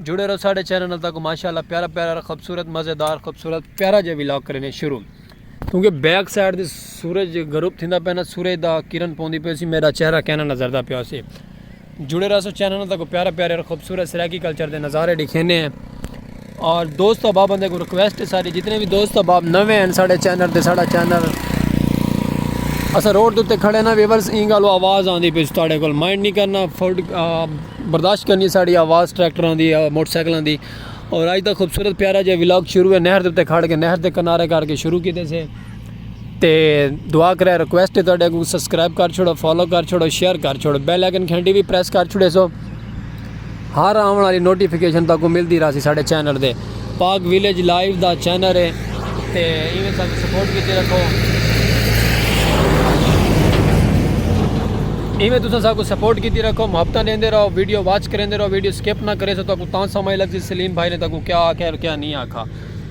جڑے رہو ساڈے چینل نال تاکو ماشاءاللہ پیارا پیارا خوبصورت مزیدار خوبصورت پیارا جے ویلاگ کرنے شروع کیونکہ بیک سائیڈ دے سورج غروب تھیندا پینا سورج دا کرن پوندی پی سی میرا چہرہ کہنا نظر دا پیا سی جڑے رہو چینل نال تاکو پیارا پیارا اور خوبصورت سرائیکی کلچر دے نظارے دکھینے ہیں اور دوست احباب بندے کو ریکویسٹ ہے ساری جتنے بھی دوست احباب نوے ہیں ساڈے چینل تے ساڈا چینل اسا روڈ تے کھڑے نا ویورز اینگالو آواز آندی پی سی تاڈے کول مائنڈ نہیں کرنا فوڈ برداشت کرنی ساڑی آواز ٹریکٹراں دی موٹر سائیکلاں دی اور آج دا خوبصورت پیارا جا ولاگ شروع ہے نہر دے اتے کھڑ کے نہر دے کنارے کر کے شروع کیتے سے تے دعا کرے ریکویسٹ ہے تہاڈے کو سبسکرائب کر چھوڑو فالو کر چھوڑو شیئر کر چھوڑو بیل آئیکن گھنٹی بھی پریس کر چھوڑے سو ہر آون والی نوٹیفیکیشن تاکو ملدی رہسی ساڈے چینل دے پاک ویلیج لائیو دا چینل ہے تے ایویں سانکوں سپورٹ کیتے رکھو ایویں تساں سانکوں سپورٹ کیتے رکھو محبتاں ڈیندے رہو ویڈیو واچ کریندے رہو ویڈیو سکپ نہ کرے سو تاکو تاں سمجھ لگ سی سلیم بھائی نے تاکو کیا آکھیا اور کیا نہیں آکھا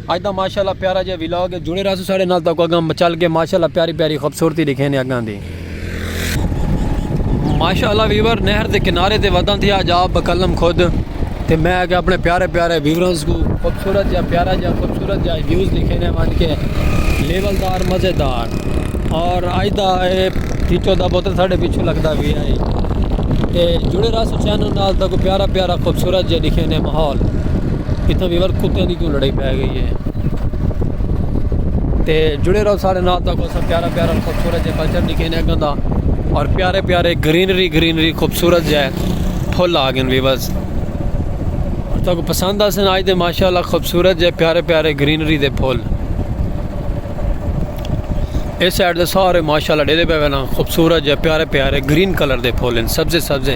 اج دا ماشاءاللہ پیارا جے ویلاگ ہے جڑے رہسو ساڑے نال تاکو اگاں چل کے ماشاءاللہ پیاری پیاری خوبصورتی دکھینے اگاں دی ماشاء اللہ ویور نہر دے کنارے تے ودن تھیا جا بکلم خود تے میں اگے اپنے پیارے پیارے ویورز کو خوبصورت یا پیارا یا خوبصورت یا ویوز لکھنے مان کے لیول دار مزے دار اور آج دا اے پیچھو دا بوتل ساڑھے پیچھو لگتا بھی آئی تے جڑے رہا سو چینل نال دا کو پیارا پیارا خوبصورت یا لکھنے ماحول اتنا ویور کتے دی کیوں لڑائی پہ گئی ہے تے جڑے رہا ساڑھے نال دا کو پیارا پیارا تھوڑا جہا کلچر دکھے نے اگوں دا اور پیارے پیارے گرینری گرینری خوبصورت جہ پھل آ گئے ویورز اور تو کو پسند آسن آج دے ماشاء اللہ خوبصورت جہ پیارے پیارے گرینری دے پھل اس سائڈ دے سارے ماشاء اللہ ڈیلے پہ نا خوبصورت جہ پیارے پیارے گرین کلر دے پھول ہیں سبزے سبزے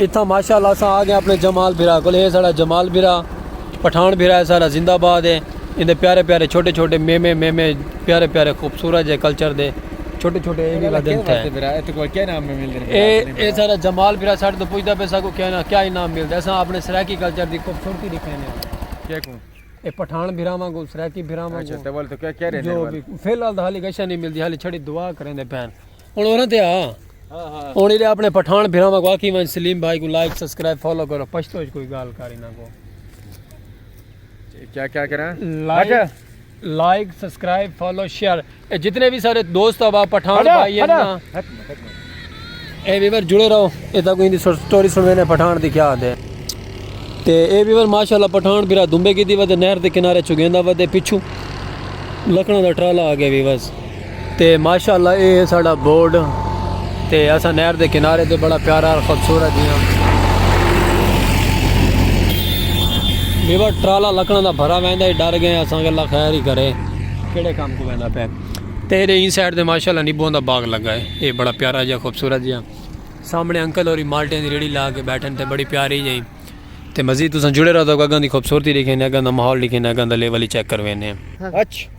اتھاں ماشاءاللہ اساں آ گئے اپنے جمال بھرا کول ہے ساڑا جمال بھرا پٹھان بھرا ہے ساڑا زندہ باد ہے ایندے پیارے پیارے چھوٹے چھوٹے میمے میمے پیارے پیارے خوبصورت جے کلچر دے چھوٹے چھوٹے اے وی ودھن تھے اے اے ساڑا جمال بھرا ساڑے تو پوچھدا پے ساکو کیا نا کیا انعام ملدا اساں اپنے سرائیکی کلچر دی خوبصورتی دکھانے آں کیکوں اے پٹھان بھرا واں کو سرائیکی بھرا واں کو اچھا تے ول تو کیا کہہ رہے ہیں جو بھی فی الحال حالی گشہ نہیں ملدی حالی چھڑی دعا کریندے پین ہن اوراں تے آ ہن ایلے اپنے پٹھان بھراواں کو آکھی ون سلیم بھائی کو لائک سبسکرائب فالو کرو پشتو وچ کوئی گال کر انہاں کو کیا کیا کراں like like subscribe follow share جتنے بھی سارے دوست ابا پٹھان بھائی ہیں اے ویور جڑے رہو اے تاکو ہندی سٹوری سنوے نے پٹھان دی کیا دے تے اے ویور ماشاءاللہ پٹھان بھرا دمبے کی دی ودے نہر دے کنارے چگیندا ودے پچھو لکڑوں دا ٹرالا آ گیا ویورز تے ماشاءاللہ اے ہے ساڑا بورڈ تے اساں نہر دے کنارے تے بڑا پیارا اور خوبصورت جیہاں بیور ٹرالا لکڑاں دا بھرا ویندا ہے ڈر گئے اساں اللہ خیر ہی کرے کیڑے کام کو ویندا پے تے اے این سائیڈ تے ماشاءاللہ نیبوں دا باغ لگا ہے اے بڑا پیارا جیہاں خوبصورت جیہاں سامنے انکل اور مالٹیں دی ریڑی لا کے بیٹھن تے بڑی پیاری جیہاں تے مزید تساں جڑے رہو تو اگاں دی خوبصورتی دیکھیں اگاں دا ماحول دیکھیں اگاں دا لیول ہی چیک کروینے ہیں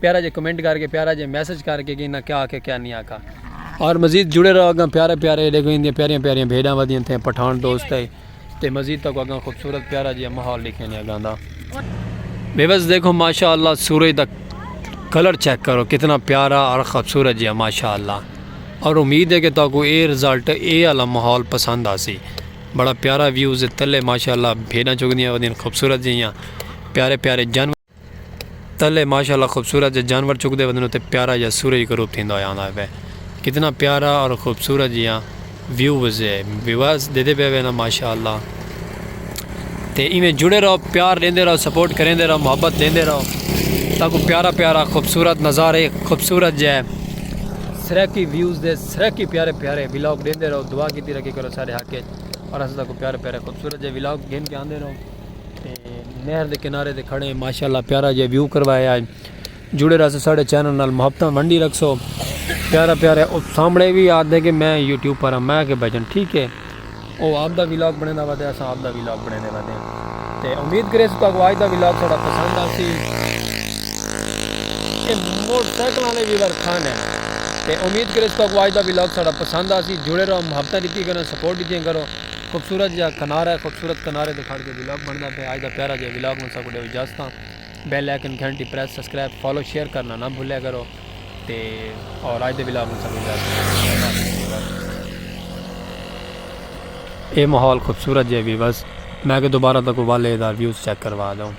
پیارا جے کمنٹ کر کے پیارا جے میسج کر کے کہ کیا آکھے کیا نہیں آکھا اور مزید جڑے رہو اگاں پیارے پیارے دیکھو ان دی پیاریاں پیاریاں بھیڑاں ودیاں تھے پٹھان دوست ہے تے مزید تک اگاں خوبصورت پیارا جے ماحول لکھے نہیں اگاں دا بے بس دیکھو ماشاءاللہ سورج دا کلر چیک کرو کتنا پیارا اور خوبصورت جی ماشاء اللہ اور امید ہے کہ تو کو اے رزلٹ اے والا ماحول پسند آ سی بڑا پیارا ویوز تلے ماشاء اللہ بھیڑاں چکدیاں ودین خوبصورت جیاں پیارے پیارے جانور تلے ماشاء اللہ خوبصورت جا جانور چک دے ودن اتے پیارا جا سورج غروب تھیندا ہویا آندا پئے کتنا پیارا اور خوبصورت جیاں ویوز ہے ویواز دیدے پئے نا ماشاء اللہ تے ایویں جڑے رہو پیار دیندے رہو سپورٹ کریندے رہو محبت دیندے رہو تاکو پیارا پیارا خوبصورت نظارے خوبصورت جے سرکی ویوز دے سرکی پیارے پیارے ولاگ دیندے رہو دعا کیتی رکھے کرو سارے حق اور اس کو پیارے پیارے خوبصورت جے ولاگ گھن کے آندے رہو نہر دے کنارے تے کھڑے ہیں ماشاءاللہ پیارا جے ویو کروایا ہے جڑے رہسو ساڑے چینل نال محبتاں ونڈی رکھسو پیارا پیارا او سامنے بھی آد دے کہ میں یوٹیوب پر ہاں میں کہ بجن ٹھیک ہے او آپ دا ویلاگ بنے دا ودے اساں آپ دا ویلاگ بنے دے ودے ہیں تے امید کرے سو تاکو آج دا ویلاگ ساڑا پسند آسی اے موٹر سائیکلوں نے بھی ورکھان ہے تے امید کرے سو تاکو آج دا ویلاگ ساڑا پسند آسی جڑے رہو محبتاں دیتی کرو سپورٹ دیتی کرو خوبصورت جیہا کنارہ ہے خوبصورت کنارے تے کھڑ کے ولاگ بندا پیا اج دا پیارا جیہا ولاگ ہن ساکوں ڈیو اجازت بیل آئیکن گھنٹی پریس سبسکرائب فالو شیئر کرنا نہ بھولیا کرو تے اور اج دے ولاگ ہن ساکوں اجازت اے ماحول خوبصورت جیہا ویورز میں کہ دوبارہ تک والے دا ویوز چیک کروا دوں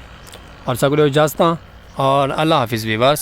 اور ساکوں ڈیو اجازت اور اللہ حافظ ویورز